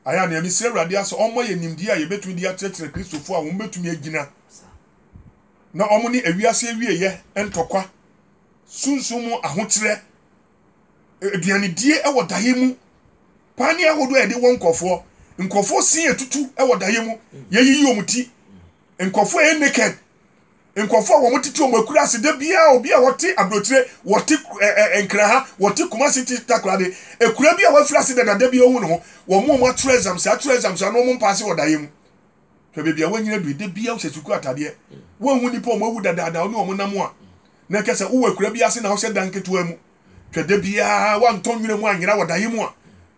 ayɛ a nea mesi awurade ase ɔmmɔ yɛ nimdeɛ a yɛbɛtumi de akyerɛkyerɛ kristofo a wɔn bɛtumi agyina na wɔn ne awiase awieɛ ntɔkwa sunsum mu ahokyerɛ aduanedie wɔ daeɛ mu paa ne ahodoɔ a yɛde wɔ nkurɔfoɔ nkurɔfoɔ sin atutu wɔ daeɛ mu yɛyiyi wɔn ti nkurɔfoɔ a ɛyɛ naked nkurɔfoɔ a wɔn tete wɔn akura ase da biara obi a wɔte aburokyire wɔte ɛɛ nkira ha wɔte kumasi te takoradi ekura bi a wɔafura ase dada da bi ohun ne ho wɔn wɔn atwerɛ exams atwerɛ exams ano wɔn mpaase wɔ daeɛ mu. Hwɛ baabi a woanyini adu yi, da biara wohyɛ sukuu atadeɛ. Woanhu nnipa a wɔawu dadaada a wo ne wɔn nam a na ɛka sɛ wowɔ akuraa bi ase na wohyɛ dan ketewa mu. Hwɛ da biara woantɔ nwura mu anyera wɔ daeɛ mu a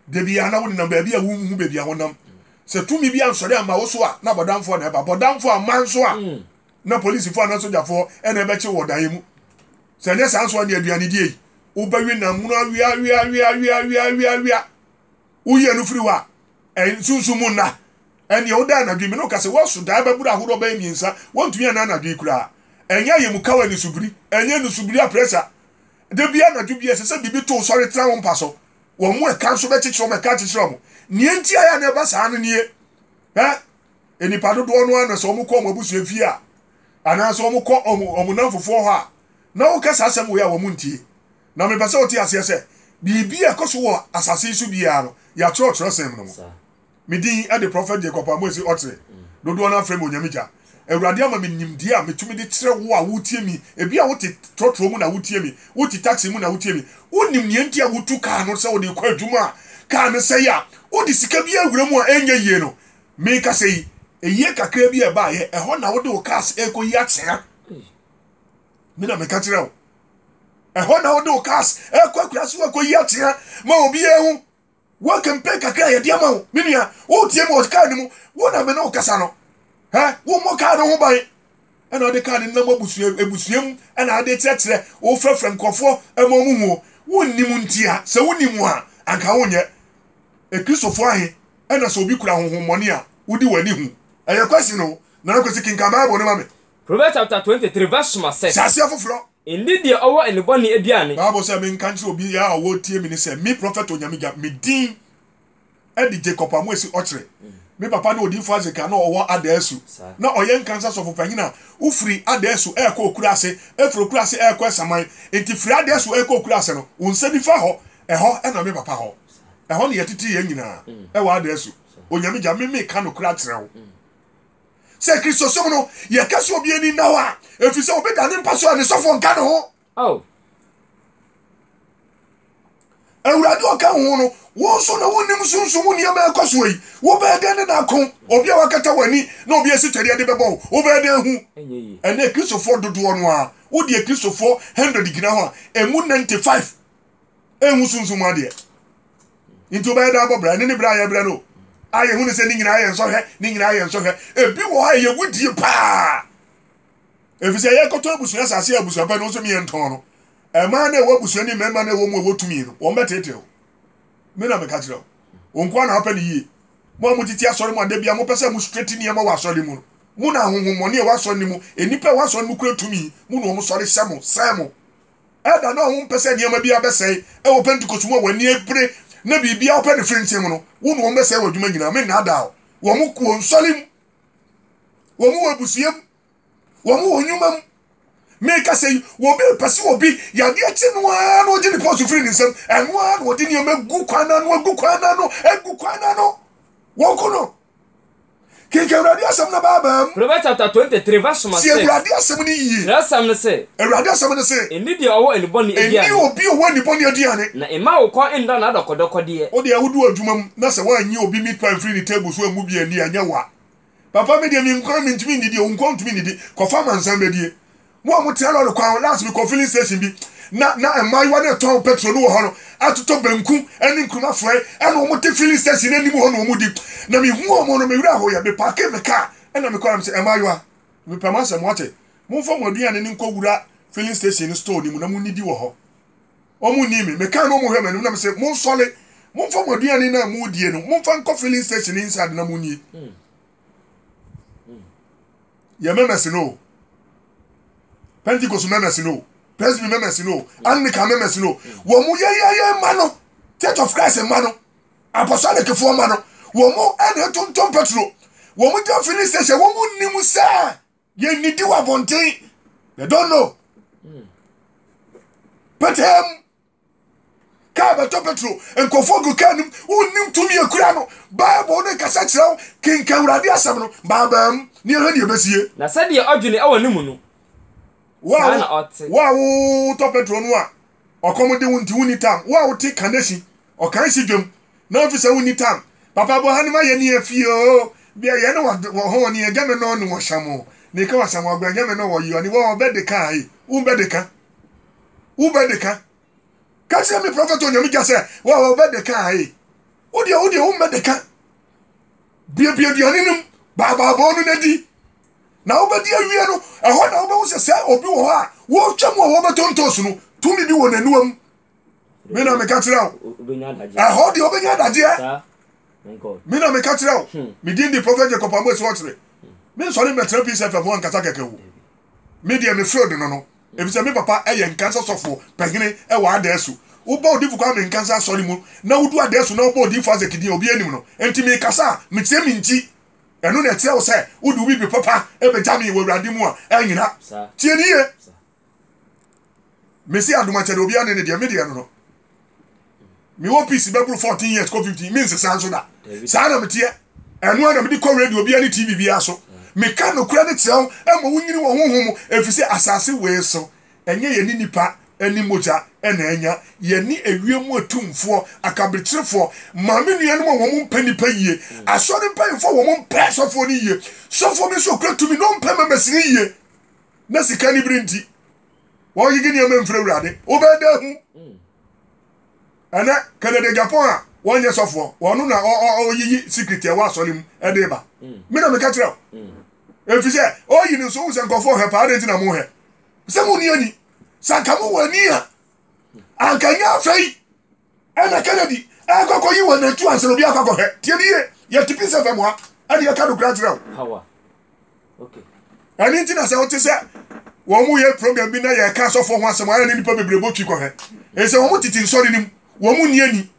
da biara na wonenam baabi a wonhu baabi a wonam. Sɛ tumi bi ansɔre amma wo so a, na bɔdamfoɔ na ɛba. Bɔdamfoɔ amma nso a, na polisifoɔ anaa sogyafoɔ na ɛbɛkye wo wɔ daeɛ mu. Sɛ ɛnyɛ saa nso a, ne aduanedie yi, wobɛwe nam mono aweaweaweaweaweaweawea. woyɛ no firi hɔ a, ɛnsunsum mu nna. Ɛnneɛ woda anadwo yi, me ne wo ka sɛ, woaso daeɛ bɛboro ahodoɔ bɛyɛ mmiɛnsa, woantumi anna anadwo yi koraa. Ɛnyɛ ayɛmukaw anisubiri, ɛnyɛ anisubiri apressure. Da biara anadwo biara ɛsɛ sɛ biribi to wo sɔre tena wo mpa so. Wɔn a ɛka nso bɛkyekyere wɔn, ɛka akyekyere wɔn. Nea enti a ɛyɛ a na ɛba saa no nie, ɛ, nnipa dodoɔ no ara na sɛ wɔkɔ wɔn abusua fie a, anaasɛ wɔkɔ wɔn, wɔn nnamfofoɔ hɔ a, na woka saa asɛm wei a wɔntie. Na mepɛ sɛ wote aseɛ sɛ, biribi a ɛkɔ so wɔ asase yi so biara no, yɛatwerɛ wɔ twerɛsɛm no mu. Me din de Prɔfɛt Jacob Amoasi Ɔtse, dodoɔ no ara frɛ me Onyamegya. Awurade ama me nimdeɛ a metumi de kyerɛ wo a woretie me. Ebia wote trɔtrɔ mu na woretie me, wote taxi mu na woretie me. Wonim nea nti a wotu kaa no sɛ wode rekɔ adwuma a kaa no sɛe a wode sika bi awura mu a ɛnyɛ yie no. Mekasa yi, ɛyɛ kakraa bi a ɛbaeɛ, ɛhɔ na wode wo cars rekɔyi akyea. Me na meka kyerɛ wo. ɛhɔ na wode wo cars ɛkɔ akura so akɔyi atea ma obiara hu wo kempe kakra yɛde ama wo me nua wotie mu wɔ kaa no mu wo na me ne wo kasa no ɛ wommɔ kaa no ho ban ɛna wode kaa no nam abusua abusua mu ɛna wode kyerɛkyerɛ wofrɛfrɛ nkurɔfoɔ ɛma ɔmo huo wonnim nti a sɛ wonim a anka wonyɛ ekristofoɔ ahe ɛna sɛ obi kura honhommɔne a wodi w'ani hu ɛyɛ kwasi no na kwasi kenkan bible no ma me Proverbs chapter twenty three verse soma six. Hyɛ aseɛ foforɔ. Ndi deɛ ɔwɔ nnebɔne aduane. Bible sɛ menka nkyerɛ obiara a ɔretie me no sɛ, me Prɔfɛt Onyame Gya, me din de Jacob Amoasi Ɔkyere. Me papa ne Odiyifo Isaac a na ɔwɔ Adaasu. Na ɔyɛ Nkansa Sɔfopanyin a wofiri Adaasu rekɔ Okuraase, firi Okuraase rekɔ Asaman. Enti firi Adaasu rekɔ Okuraase no, wo nsa nifa hɔ, ɛhɔ na me papa hɔ. Ɛhɔ na yɛtetee yɛn nyinaa wɔ Adaasu. Onyame Gya, me meka nokorɛ akyerɛ wo. sɛ Kristosom no, yɛka sɛ obi ani nna hɔ a, ɛfiri sɛ obi da ne mpa so a ne sɔfoɔ nka ne ho. Oh. awurade ɔka wo ho no wo nso na wonnim sunsum mu nneɛma ɛkɔ soɔ yi wobɛyɛ dɛn de no ako obi a wakata w'ani na obi asi twɛdeɛ de bɛbɔ wo wobɛyɛ dɛn hu ɛnɛ kristofoɔ dodoɔ no a wodeɛ kristofoɔ 100 gyina hɔ a ɛmu 95 ɛnhu sunsum mu adeɛ nti wobɛyɛ dɛ abɔ bra ɛne ne bra a yɛbrɛ no a yɛhu ne sɛ ne nyinaa yɛ nsɔhwɛ ne nyinaa yɛ nsɔhwɛ ebi wɔ hɔ a ɛyɛ wudie paa ɛfiri sɛ yɛkɔtɔ abusua asase a abusua pɛ no nso meyɛ ntɔn no ɛmaa na ɛwɔ abusua ni mmarima na ɛwɔ mu ɛwɔ tumi no wɔn bɛteetee wo me na meka kyerɛ wo nkoa na wapɛ ne yie mo a motete asɔre mu ada bia mopɛ sɛ mo straight nneɛma wɔ asɔre mu no mo na ahohommɔne a ɛwɔ asɔre no mu nnipa ɛwɔ asɔre no mu kura tumi mo na wɔn sɔre hyɛ mo sɛn mo Ɛda no a wompɛ sɛ nneɛma biara bɛsɛe wɔ Pentekoste mu a wɔn ani abere na biribiara pɛ ne frintee mu no, wo ne wɔn bɛsɛe wɔ adwuma nyinaa. Mennaadaa wo. Wɔn wɔ nsɔre mu. Wɔn wɔ abusua mu. Wɔn wɔ nnwuma mu. Merekasa yi, obi repɛ sɛ obi yadeɛ kye no ara na ɔgye ne pɔs firi ne nsam. Ɛno ara na ɔde nneɛma gu kwan no ano, agu kwan no ano, agu kwan no ano. Wɔku no. Kenkan Awurade asɛm no abaabaam. Proverbs chapter twenty three verse number six. Tie Awurade asɛm no yie. Twerɛsɛm no se. Awurade asɛm no se. Nni deɛ ɔwɔ anibɔne aduane. Nni obi a ɔwɔ anibɔne aduane. Na mma wo kɔn nna n'adɔkɔdɔkɔdeɛ. Wo deɛ wodu adwuma mu na sɛ woannye obi meat pie mfiri ne table so ammu bi anni a, ɛnyɛ wo a. Papa me deɛ me nkwan mentumi nnidi o, wo nkoa wontumi nnidi. Kɔfa amansan bɛdie. Mo a mo tena lɔre kwan ho, last me kɔ filling station bi na na mmaayewa no retɔn petrol no wɔ hɔ no atotɔ banku ne nkruma frɔe ɛna wɔn te filling station no anim hɔ na wɔn di. Na me hu wɔn no me werɛ hoeɛ, me parkee me car ɛna me kɔ na me sɛ mmaayewa me pɛ mo asɛm mo ate, mo nfa mo aduane no nkɔ wura filling station no store no mu na mo nnidi wɔ hɔ. Wɔn nnii me, me kaa na wɔn hwɛ m'anim na me sɛ mo nsɔre, mo nfa mo aduane no a mo redie no mo nfa nkɔ filling station no inside na mo nni. yɛ mɛmɛsi no pentikos mɛmɛsi no presby mɛmɛsi no anglican mɛmɛsi no wɔn mu yɛyɛyɛ mma no church of christ mma no apostolic-foɔ mma no wɔn mu ɛna ɛtontom petro wɔn mu gyina filling station wɔn mu nim sɛ yɛn nidi wɔ abɔnten they don't know pɛtɛm. kaa bɛtɔ petro nkurɔfoɔ gu kaa nim wonnim tumi akura no bible no nkasa kyerɛ wo kenka awurade asɛm no baabaa mu ne ɛhwɛ ne ɛbɛsie na sɛdeɛ ɔdwene wɔ ne mu no saa na ɔte wo a wotɔ petro no a ɔkɔm de wo nti wonni tam wo a wote kanesi ɔkan si dwam na wofi sɛ wonni tam papa bɔ ha ne ma yɛ ne afie o bia yɛ ne wɔ hɔ ne ɛgya me nɔ ne wɔhyɛ mo ne ka wɔhyɛ mo agwa ɛgya me nɔ wɔ yɔ ne wɔ bɛde ka e wo bɛde ka wo bɛ de ka ka kyerɛ me prɔfɛt onyame gya sɛ wa wo bɛ de ka ae wo deɛ wo deɛ wo mmɛ de ka buebue aduane no mu baabaabɔɔ no n'adi na wobɛdi awie no ɛhɔ na wobɛhu sɛ sɛ obi wɔ hɔ a wɔretwa mu a wɔbɛtontos no tumi bi wɔ n'anuwa mu me na meka kyerɛ wo ɛhɔ deɛ wobɛnya adagyeɛ me na meka kyerɛ wo medin de prɔfɛt jacob amoasi ɔkyere mensɔre mmɛtena peace fm ho ankasa kɛkɛ o Me deɛ mefrɛ wo Donono efisɛ me papa yɛ Nkansa sɔfo pahini wɔ Adaesu. Woba Odifo Kwame Nkansa asɔre mu na wodu Adaesu na wɔbɔ Odifo Isaac din a obiara nnim no nti mekasa a meteɛ me nti. Ɛno na ɛkyerɛ wo sɛ wode wo bibire papa bɛgya me wɔ Awurade mu a, annyina. Tie no yie. Mesi adom a ɛkyɛ deɛ obiara ne ne deɛ me deɛ no no mewɔ peace bɛboro fourteen years kɔ fifteen me nsesa nso da saa na meteɛ ɛno a na mede kɔ radio biara ne tv biara so meka nokora ne kyerɛ wo ɛma wonyini wɔ honhom mu ɛfiri sɛ asase wei so ɛnyɛ yɛne nipa ne mogya ɛna anya yɛne awie mu atumfoɔ akaberekyerefoɔ maame nuanom a wɔn mpɛ nipa yie asɔre mpanyinfoɔ wɔn mpɛ sɔfoɔ no yie sɔfoɔ bi nso okura tumi na ɔmpɛ mɛmɛsini yie na sika ne bere nti wɔgyegye nneɛma mfiri awurade wobɛyɛ dɛ hu mm. ɛnɛ canada japan a wɔnyɛ sɔfoɔ wɔno na ɔyiyi secret ɛwɔ asɔre mu ɛde ba mm. me na meka kyerɛ wo ɛfiri mm. sɛ ɔyi no nso wo sɛ nkɔfoɔ hɛ paa dɛ nti na mo hɛ sɛ mo ni ani sɛ anka mo wɔ ani a anka nyɛ afei Ɛna Kennedy ɛkɔ kɔ yi wɔ natu ansa na obi akɔ akɔhwɛ. Tie ni ye, yɛ te Peace FM a ɛne yɛka no kura kyerɛ wo. Power. Okay. Ɛne nti na sɛ wote sɛ wɔn mo yɛ program bi na yɛka asɔfoɔ ho asɛm a ɛne nipa bebree bɔ twi kɔhwɛ. Ɛsɛ wɔn mo tete nsɔre no mu, wɔn mo ni ani.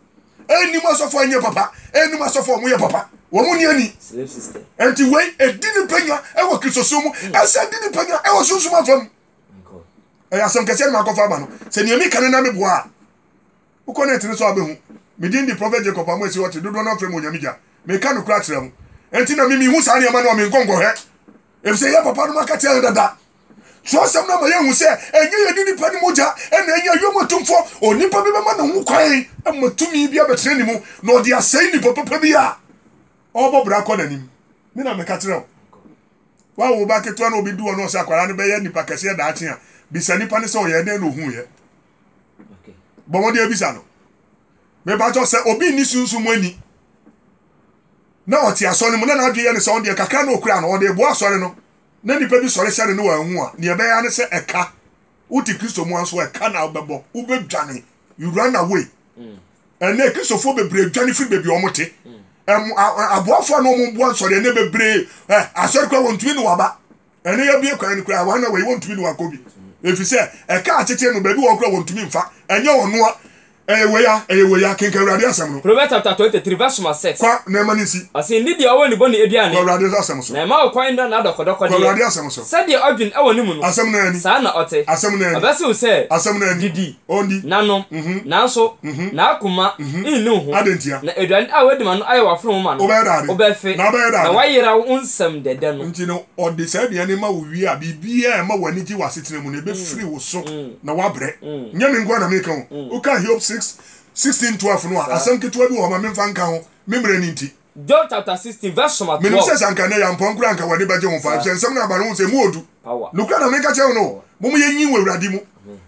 Ɛnim asɔfoɔ ɛnyɛ papa, ɛnim asɔfoɔ wɔn yɛ papa, wɔn mo ni ani. Slave system. Ɛnti wei ɛdi ne panya ɛwɔ kristosom mu, ɛsɛ di ne panya ɛwɔ sunsum afa mu. Ɛyɛ asɛm kɛseɛ na makɔfa aba no, sɛ nea meka no na meboa a Wokɔ net no so a wobɛhu. Me din de Prɔfɛt Jacob Amoasi Ɔte, dodoɔ no ara frɛ me Onyame Gya. Meka nokorɛ akyerɛ mo. Enti na me menhu saa nneɛma no a, menkɔ nkɔhwɛ, ɛfisɛ yɛn papa nom aka kyerɛɛ yɛn dada. Twerɛsɛm no ama yɛahu sɛ ɛnyɛ yɛn ne nnipa no mogya na ɛnyɛ wiem atumfoɔ. Onipa bi bɛma ne ho kwan ma tumi bi abɛtena ne mu na ɔde asɛe nnipa papa bi a ɔrebɔ bra akɔ n'anim. Me na meka kyerɛ wo. Woawo wo ba ketewa na ɔbɛdi hɔ na ɔsɛ akwadaa no bɛyɛ nipa kɛseɛ daakye a, bisa nnipa no sɛ ɔyɛɛ dɛn na ɔhuuiɛ. bɔ mmɔden abisa no mepakyɛw sɛ obi nni sunsum mu ani na ɔte asɔre no mu na n'adwene yɛ ne sɛ ɔno deɛ kakra na okura no ɔde boa asɔre no na nipa bi sɔre hyɛ no ne wɔanhu a nea ɛbɛyɛ ne sɛ ɛka wote kristo mu nso ɛka na wobɛbɔ wobɛdwane you run away mm. ɛnna mm. kristofoɔ bebree dwane firi baabi a wɔte mm. aboafoɔ a na wɔboa nsɔre ɛnna bebree asɔre kora wɔntumi ne waba Ɛno yɛ bue kwan no koraa, wɔn a wɔyi wɔn tumi no wɔakɔ bi, efisɛ ɛka akyekye no, baabi wɔ hɔ koraa wɔntumi mfa, ɛnyɛ ɔno a, ɛyɛ wei a, ɛyɛ wei a, kenkan Awurade Asɛm no. Proverbs chapter twenty three verse number six. Kɔ na ɛma no nsi. Ɔse nde deɛ ɔwɔ ne bɔne aduane. Kɔ Awurade Asɛm so. Na ɛma wo kwan nna n'adɔkɔdɔkɔdeɛ. Kɔ Awurade Asɛm so. Sɛdeɛ ɔdwen wɔ ne mu no. Asɛm no ara ni. Saa na ɔte. Asɛm no ara ni. Ɔbɛse wo sɛ. Asɛm no ara ni. Didi. nanom, nanso n'akoma nnu ho, na aduane a wadi ma no ayɛ w'afono ma no, wobɛfe, na woayera wo nsam dɛdɛ no. Enti no, ɔde saa aduane no ma wo wie a, biribiara a ɛma w'ani gye w'asetena mu no, ɛbɛfiri wo so, na woabrɛ. Nyɛ me nko ara na mereka o. Woka Hiob six, sixteen, twelve no a, asɛm ketewa bi wɔ hɔ, ma memfa nka ho, me mmerɛ no nti. John chapter sixteen verse number twelve. Menim sɛ sɛ anka ɛnnɛ yɛ ampɔn koraa a anka w'ani bɛgye ho fa, efisɛ nsɛm no aba no ho sɛ emu wɔ du. Nokorɛ na meka kyerɛ wo no, mommɔ yɛn nyin wɔ Awurade mu.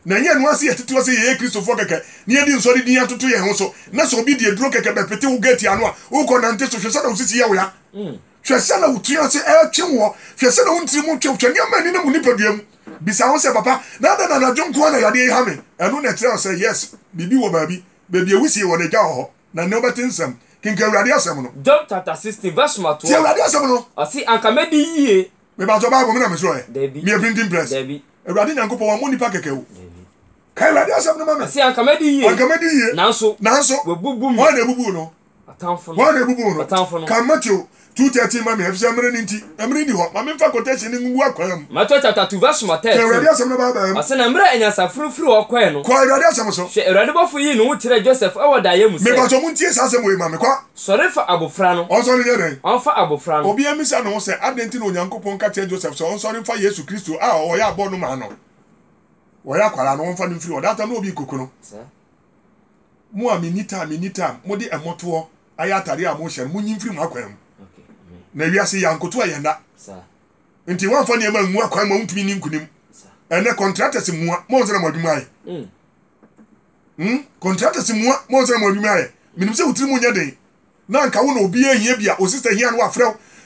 Na ɛnyɛ ɛno ara sɛ yɛtetewa sɛ yɛyɛ Kristofoɔ kɛkɛ na yɛde nsɔre din atoto yɛn ho so, na sɛ obi de aduro kɛkɛ bɛpete wo gate ano a, worekɔ nante so, hwɛ sɛdeɛ wo sisi yɛ wo ya, hwɛ sɛdeɛ wo tiri ase retwe woɔ, hwɛ sɛdeɛ wo ntiri mu twe wo, hwɛ nneɛma a ɛnenam wo nipadua mu. Bisa wo ho sɛ, 'Papa, na adɛn na anadwo nko ara na yadeɛ yi ha me? Ɛno na ɛkyerɛ wo sɛ, yes, biribi wɔ baabi, baabi a wisie wɔ no, agya wɔ hɔ. Na nea ɔbɛte nsɛm. Kenkan Awurade asɛm no. Job chapter sixteen verse number Tie twelve, Awurade asɛm no. ɔse anka mɛdi yie. Me pakyɛ Bible me na me srɔɛ? Dabi, Me yɛ printing press? dabi, Awurade Nyankopɔn wammɔ nipa kɛkɛ o. dabi. Kae Awurade asɛm no ma me. Ɔse anka mɛdi yie. Anka mɛdi yie. Nanso, Nanso, wɔabubu me. hwan na abubu wo no? Atamfo no. Hwan na abubu wo no? Atamfo no. Kan Mateo Two thirteen ma me, efisɛ mmere no nti, na mmere nni hɔ. Ma memfa quotation no ngu akwan mu. Matthew chapter two verse number thirteen. Ka Awurade asɛm no baabaa mu. Ɔse na mmere a anyansafo no firi hɔ kɔɛ no. Kɔ Awurade asɛm so. Hwɛ, Awurade bɔfo yii ne ho kyerɛɛ Joseph wɔ daeɛ mu sɛ. Me patɔ montie saa asɛm wei ma me, kɔ. Sɔre fa abofra no. Ɔnsɔre nyɛ dɛn? Ɔnfa abofra no. Obiara mmisa ne ho sɛ, adɛn nti na Onyankopɔn ka kyerɛ Joseph sɛ ɔnsɔre mfa Yesu Kristo a ɔyɛ abɔɔ no maa no? Ɔyɛ akwadaa no, wɔmfa no mfiri hɔ. That time na obi nkoku no. Sɛ. Mo a minni time, minni time, mode mmɔtoɔ ayɛ atadeɛ a mohyɛ no, monyi mfiri mo akwan mu. Na wiase yi, ankoto a yɛnna. Nti woamfa nneɛma angu akwan mu a wontumi nni nkonim. Ɛnnɛ, contractors mmua, moansa na mo adwuma ayɛ. Hmm? Contractors mmua, moansa na mo adwuma ayɛ. Menim sɛ wo tirim nyɛ den. Na nka wo na obi ehia bi a, wo sister hia no wafrɛ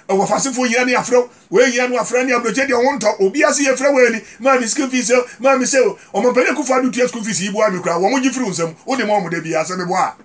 wo, w'afasefo hia no afrɛ wo, wei hia no afrɛ ne abrɛkyɛ deɛ ho ntɔ obiara sɛ yɛfrɛ wei ni, maa me school fees o, maa me sei o, Ɔmampanin Akuffo Addo tua school fees yi boa me koraa, wɔn gye firi wo nsam, wo de ma wɔn da biara, sɛ me boa a.